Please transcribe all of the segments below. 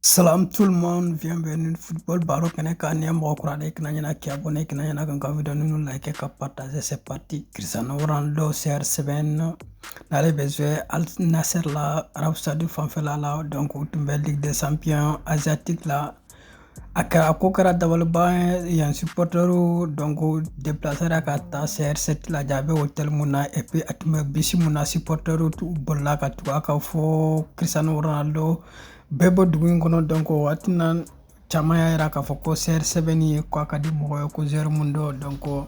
Salam tout le monde, bienvenue Football Baro kɛnɛ kan ni mɔgɔ kura de kana ɲɛna k'i abonné kana ɲɛna ka n ka video ninnu like ka partager c'est parti Cristiano Ronaldo CR7 n'ale bɛ jouer Al Nassr la Arab Saudi fanfɛla la donc u tun bɛ Ligue des Champions asiatique la a kɛra a ko kɛra dabaliban ye yen supportɛriw donc déplacéra ka taa CR7 lajɛ a bɛ hôtel mun na et puis a tun bɛ bisi mun na supportɛriw bolila ka tugu a kan fo Cristiano Ronaldo bɛ bɔ dugu in kɔnɔ donc o waati na caman y'a jira k'a fɔ ko CR7 nin ye k'a ka di mɔgɔ ye ko joueur min don donc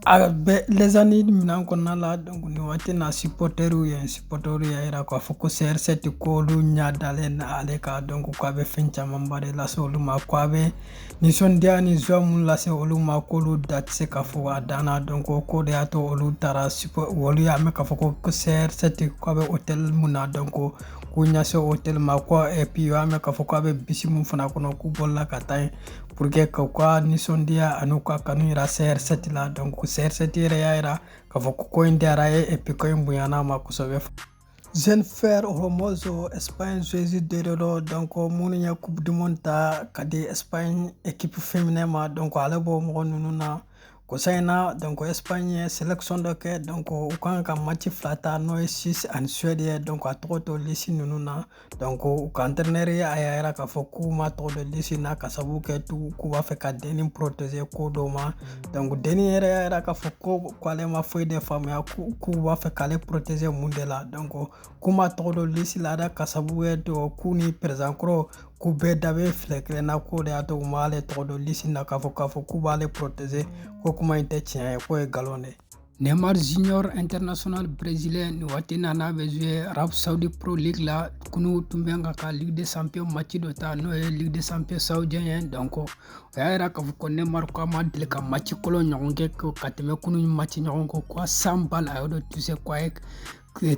a bɛ ni minɛn kɔnɔna la donc nin waati na supporter ye supporter y'a jira k'a fɔ ko CR7 ko olu ɲɛ dalen don ale kan donc k'a bɛ fɛn camanba de lase olu ma ko a bɛ nisɔndiya ani son minnu lase olu ma ko olu da tɛ se k'a fɔ a dan donc k'o de y'a to olu taara olu y'a mɛn k'a fɔ ko CR7 k'a bɛ hôtel min na donc k'u ɲɛsin hôtel ma ko et puis u y'a mɛn k'a fɔ k'a bɛ bisi min fana kɔnɔ k'u bolila ka taa yen pour que k'u ka nisɔndiya an'u ka kanu yira CR7 la donc CR7 yɛrɛ y'a yira k'a fɔ ko ko in diyara a ye et puis ko in bonyana a ma kosɛbɛ Jennifer Hermoso, Espagne, joueuse dɔ don, donc minnu ye Coupe du Monde ta ka di Espagne équipe féminin ma donc ale b'o mɔgɔ ninnu na Kɔsa in na donc Espagne ye selection dɔ kɛ donc u kan ka match fila ta n'o ye Suisse ani Suède ye donc a tɔgɔ tɛ lisi ninnu na donc u ka entraîneur ye a y'a yira k'a fɔ k'u m'a tɔgɔ don lisi na k'a sabu kɛ tugu k'u b'a fɛ ka dennin protéger ko dɔw ma donc dennin yɛrɛ y'a yira k'a fɔ ko k'ale ma foyi de faamuya k'u b'a fɛ k'ale protéger mun de la donc k'u m'a tɔgɔ don lisi la dɛ k'a sabu kɛ k'u ni président kɔrɔ k'u bɛɛ da bɛ filen kelen na k'o de y'a to u m'ale tɔgɔ don lisi na k'a fɔ k'a fɔ k'u b'ale protéger ko kuma in tɛ tiɲɛ ye k'o ye nkalon de ye Neymar Junior International Brésilien nin waati na n'a bɛ jouer Arab Saudi Pro League la kunu tun bɛ k'a ka Ligue des Champions match dɔ ta n'o ye Ligue des Champions saoudien ye donc o y'a jira k'a fɔ ko Neymar k'a ma deli ka match kolon ɲɔgɔn kɛ ka tɛmɛ kunu match ɲɔgɔn kɔ ko cent ballons a y'o de toucher k'a ye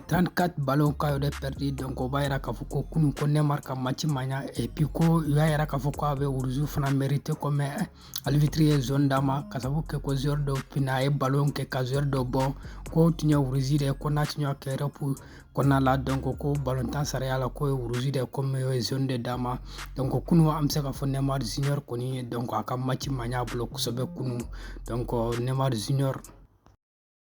trente-quatre ballons k'a y'o pɛridi dɔnko o b'a yira k'a fɔ ko kunun ko Neymar ka maci ma ɲa epi ko u y'a yira k'a fɔ ko a bɛ rouge fana merite kɔmɛ arbitre ye jaune d'a ma k'a sabu kɛ ko joueur dɔ pina a ye balon kɛ ka joueur dɔ bon k'o tun ye rouge de ko n'a tun y'a kɛ Europe kɔnɔna la dɔnko ko balontan sariya la k'o ye rouge de kɔmi u ye jaune de d'a ma dɔnko kunu an bɛ se k'a fɔ Neymar junior kɔni ye dɔnko a ka maci ma ɲa a bolo kosɛbɛ kunu dɔnko Neymar junior